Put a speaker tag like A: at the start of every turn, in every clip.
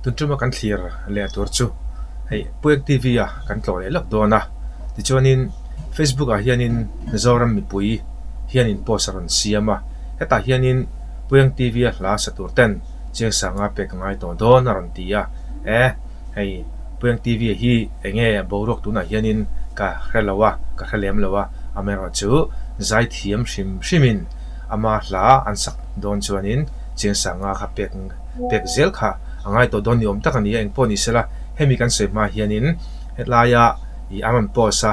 A: tun tuma kan thlir leh tur chu hei Puiak TV a kan tlawh leh lawk dawn a tichuanin Facebook ah hianin Mizoram mipui hianin post a rawn siam a hetah hianin Puiang TV a hla sa tur ten-- Chiang Sanga pek ngai tawh dawn a rawn ti a, e hei Puiang TV hi eng nge boruak tunah hianin ka hre lo a, ka hre lem lo a, amerawh chu zai thiam hrim hrimin ama hla an sak dawn chuanin Chiang Sanga kha pek pek zel kha a ngai tawh dawn ni awm tak a ni a, engpawh ni sela hemi kan sawi hma hianin helaia i an rawn post a,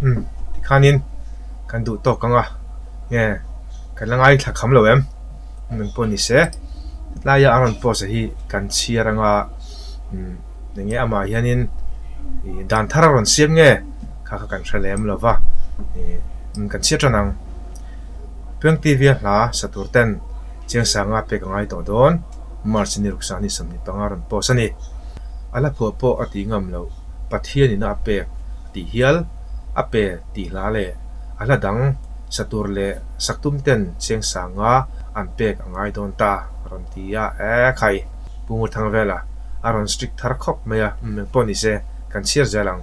A: Hmm, tikhanin kan duh tawk anga nge kan la ngai thla kham lo em nun pawh ni se tlaia an rawn post a hi kan chhiar anga hmm enge amah hianin dan thar a rawn siam nge kha kha kan hre lem lova kan chhiat than ang Piang TV a hla satur ten Chiangsanga pek a ngai tawh dawn, March a ni ruk sangni sawmhnih panga rawn post a ni. A la phuah pawh a tih ngam lo, Pathianina a pek tih hial, a pe tih hlah leh a hla dang sa tur leh sak tum ten Chiangsanga an pek a ngai dawn ta a rawn ti a, e khai Pumurthang vela a rawn strict thar khawp mai a, eng pawh ni se kan chhiar zel ang.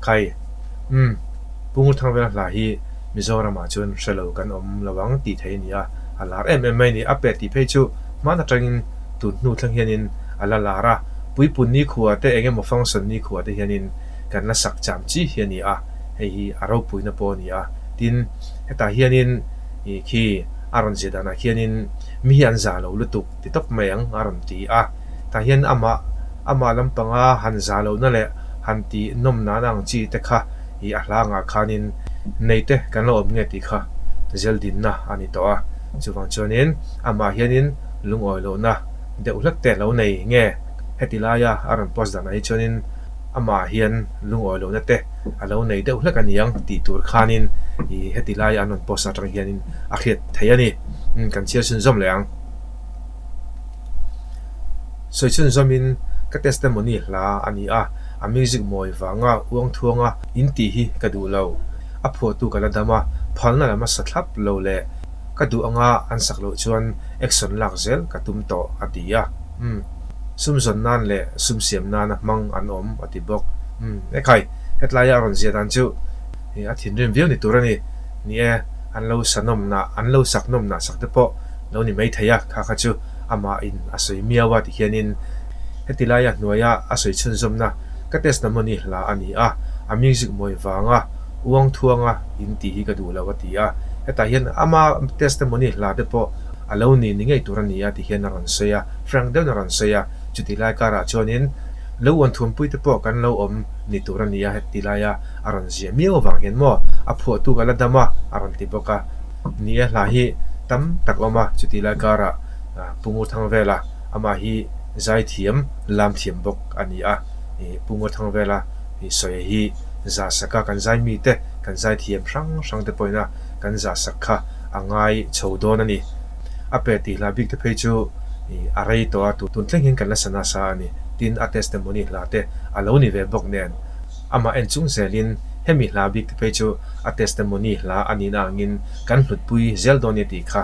A: Khai, Umm, Pu Nguthangvela hla hi Mizoramah chuan hre lo kan awm lo ang tih theih a ni a, a lar em em mai a ni. A pet tih phei chu hman atangin tun hnu thlang hianin a la lar a, puipunni khua te eng emaw functionni khua te hianin kan la sak cham chi hi a ni a, hei hi a ropuina pawh a ni a. Tin, hetah hianin khi a rawn zia danah khianin mi hi an za lo lutuk. ti tawp mai ang a rawn ti a, tah hian amah amah lampanga han za lohna leh han ti nawm nana ang chi te kha i a hlangah khanin nei te kan lo awm nge tih kha zeldinna a ni tawh a, chuvang chuanin amah hianin lungawi lohna deuh hlat te lo nei nge heti laia a rawn post dan ah hi chuanin amah hian lungawi lohna te a lo nei deuh hlek a ni ang tih tur khanin i heti laia an rawn post atang hianin a hriat theih a ni kan chhiar chhun zawm leh ang. Sawichhun zawmin ka testimony hla a ni a, a music mawi vanga uangthuanga intih hi ka duh lo. A phuahtu ka la dam a, phalna lam a sa thlap lo leh ka duh anga an sak loh chuan action lak zel ka tum tawh, a ti a. Um. Sum zawn nan leh sum siam nana hmang an awm, a ti bawk. Um. Ekhai, hetlaia a rawn zia dan chu. hi a thinrim viau ni tur a ni. Ni e, an lo sa nawmnah, an lo sak nawmnah sak te pawh lo ni mai thei a, kha kha chu amahin a sawi miau a tihianin heti laia hnuaia a sawi chhunzawmna ka test lam mawni hla a ni a, a music mawi vanga, uang thuanga in tih hi ka duh lo a ti a. Hetah hian ama test te mawni hla te pawh a lo ni ni ngei tur a ni a tihian a rawn sawi a, frank deuhin a rawn sawi a. Chuti lai karah chuanin lo uan thuampui te pawh kan lo awm ni tur a ni a heti laia. a rawn ziah miau vang hian maw a phuahtu kha la dam a a rawn ti bawk a ni a hla hi tam tak awm a chuti lai karah Pungaw Thangvela amah hi zaithiam lamthiam bawk a ni a Pungaw Thangvela sawia hi zah sak a kan zai mite kan zaithiam hrang hrang te pawhin a kan zah sak kha a ngai chho dawn a ni a pet tih hla bik te phei chu a rei tawh a tun thleng hian kan la sa nasa a ni tin a testimony hla te a lo ni ve bawk nen. Amah en chung zelin hemi hla bik te phei chu a testimony hla a nihna angin kan hlutpui zel dawn nia tih kha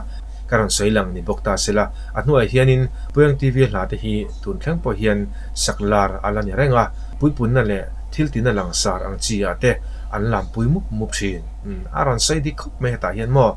A: ka rawn sawi lang ni bawk ta se la, a hnuaiah hianin Puiang TV hla te hi tun thleng pawh hian sak lar a la ni reng a, puipunna leh thil tina langsar ang chiah te an lampui mup mup thin a rawn sawi dik khawp mai hetah hian maw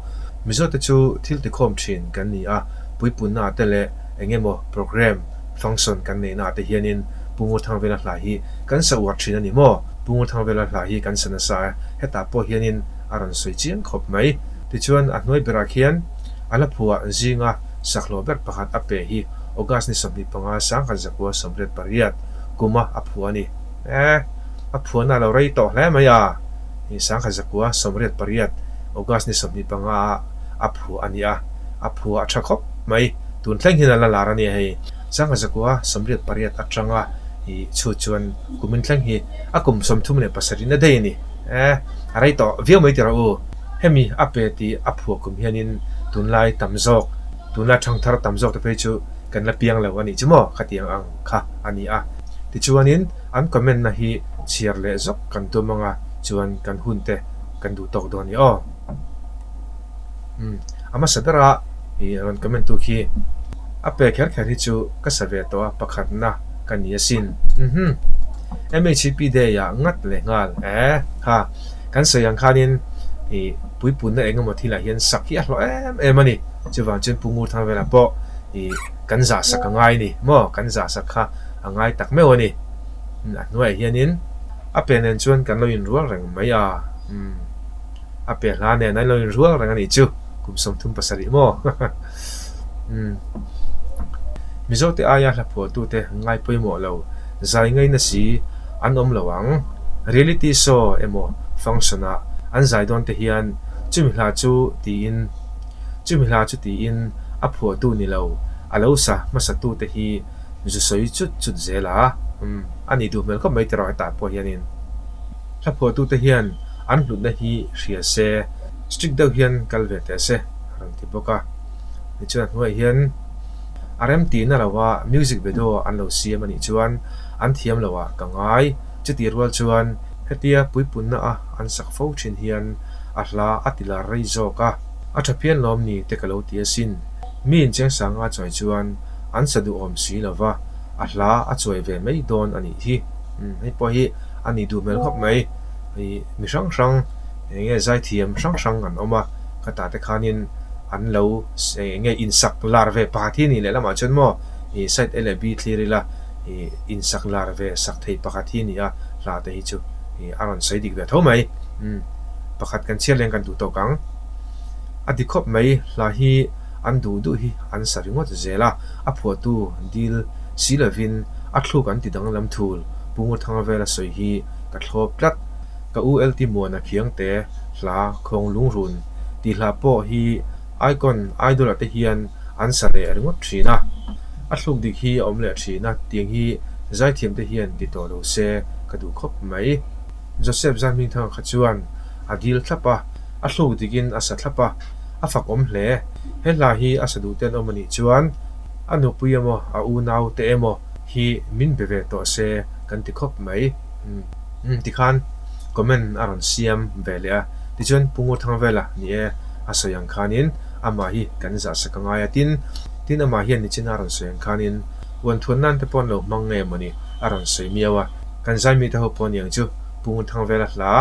A: Mizote chu thil tikhawm thin kan ni a, puipunna te leh engemaw programme Function kan neihnaah te hianin Pungrua Thangvela hla hi kan sa uar thin a ni maw? Pungrua Thangvela hla hi kan sa nasa e, hetah pawh hianin a rawn sawi chiang khawp mai. Tichuan a hnuai berah khian a la phua zinga sakhlawh ber pakhat a pe hi August ni sawmhnih panga sangkhat zakua sawmriat pariat kuma a phua a ni. Ae, a phuana lo rei tawh hle mai a, sangkhat zakua sawmriat pariat August ni sawmhnih panga ah a phua a nia, a phua a tha khawp. Mai, tun thleng hian a la lar a nia hei. Sangha zakua sawmriat pariat atanga i chhut chuan kumin thleng hi a kum sawmthum leh pasarih na daih a ni. Ae, a rei tawh viau mai ti rawh u. Hemi a pe ti a phuah kum hianin tunlai tam zawk, tunlai thang thar tam zawk te phei chu kan la piang lo a nih chu maw khatiang ang kha a ni a. Tichuanin an comment-na hi chhiar leh zawk kan tum anga chuan kan hunte kan duh tawk dawn ni aw. a hmasa ber a i rawn comment tu khi a pe kher kher hi chu ka sa ve tawh a pakhatna ka ni asin umhh mhp day ah ngat leh nghal eh kha kan sawi ang khanin i puipunna eng emaw thil ah hian sak hi a hlawh em em a ni chuvang chuan pu ngurthar vel ah pawh i kan zah sak a ngai a ni maw kan zah sak kha a ngai tak meuh a ni a hnuaiah hianin a pe nen chuan kan lo inrual reng mai a umm. a piah hla nen a lo in rual reng a nih chu kum sawmthum pasarih maw umm mizo te aia hla phuah tu te an ngai pawimawh lo zai ngei na si an awm lo ang reality show emaw function ah an zai dawn te hian chumi hla chu tiin chumi hla chu tiin a phuah tu ni lo a lo sa hmasa tu te hi zu sawi chut chut zel a umm a nih duh hmel khawp mai tiraw heta pawh hian in. Thlaphuahtute hian an hlutna hi hria se, strict deuh hian kal ve teh se a rawn ti bawk a. Tichuan a hnuaiah hian a rem tihna loha music video an lo siam a nih chuan an thiam loah ka ngai. Chutih rual chuan hetia puipunna a an sak fo thin hian a hla a tilar rei zawk a. A tha phian lawm ni te ka lo ti asin. Mi inchengsanga chuai chuan an sa duhawm si lova, a hla a chuai ve mai dawn a nih hi. Hei pawh hi a nih duh hmel khawp mai. Hei mi hrang hrang eng nge zaithiam hrang hrang an awm a, khata te khanin an lo eng nge insak lar ve pakhat hi nih leh lamah chuan maw ih side a leh b thlir ila ih insak lar ve sak thei pakhat hi nia hla te hi chu ih a rawn sawi dik ve tho mai. Pakhat kan chhiar leh ang kan duh tawk ang a ti khawp mai hla hi. an duh duh hi an sa ringawt zel a, a phuahtu dil si lovin a thluk an ti danglam thul Pungruthanga vela sawi hi ka thlawp tlat. Ka u Ltimuana Khiangte hla khawng lungrun ti hla pawh hi icon idol-a te hian an sa leh ringawt thin a, a thluk dik hi a awm leh thin a tiang hi Zaithiam te hian ti tawh lo se ka duh khawp mai. Joseph Zanhmingthanga kha chuan a dil thlap a, a thluk dikin a sa thlap a, a fak awm hle. He hla hi a saduh ten awm a nih chuan a nupui emaw a unau te emaw hi min be ve tawh se kan ti khawp mai. Umm tikhan comment a rawn siam ve leh a. Tichuan Pu Ngurthangvela ni e a sawi ang khanin amah hi kan zah sak a ngai a tin tin amah hian ni china a rawn sawi ang khanin uanthut nan te pawn lo hmang nge maw ni a rawn sawi miau a. Kan zai mite ho pawh niang chu Pu Ngurthangvela hla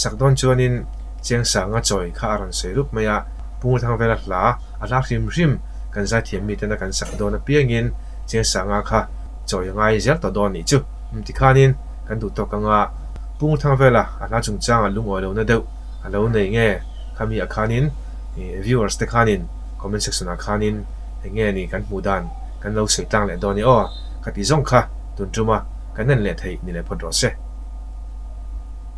A: sak dawn chuanin Chiang sanga chawi kha a rawn sawi rup mai a, Pung Thang Vela hla a hla hrim hrim kan zaithiam mi tena kan sak dawn apiangin Chiang sanga kha chawi a ngai zel tawh dawn anih chu, um tikhanin kan duh tawk anga Pung Thang Vela a hla chungchanga lungawi lohna deuh a lo nei nge khami ah khanin viewers te khanin comment section ah khanin hei nge ni kan hmuh dan kan lo sawi tlang leh dawn ni aw, kha tih zawng kha tun tuma kan en leh thei ni leh phawt rawh se.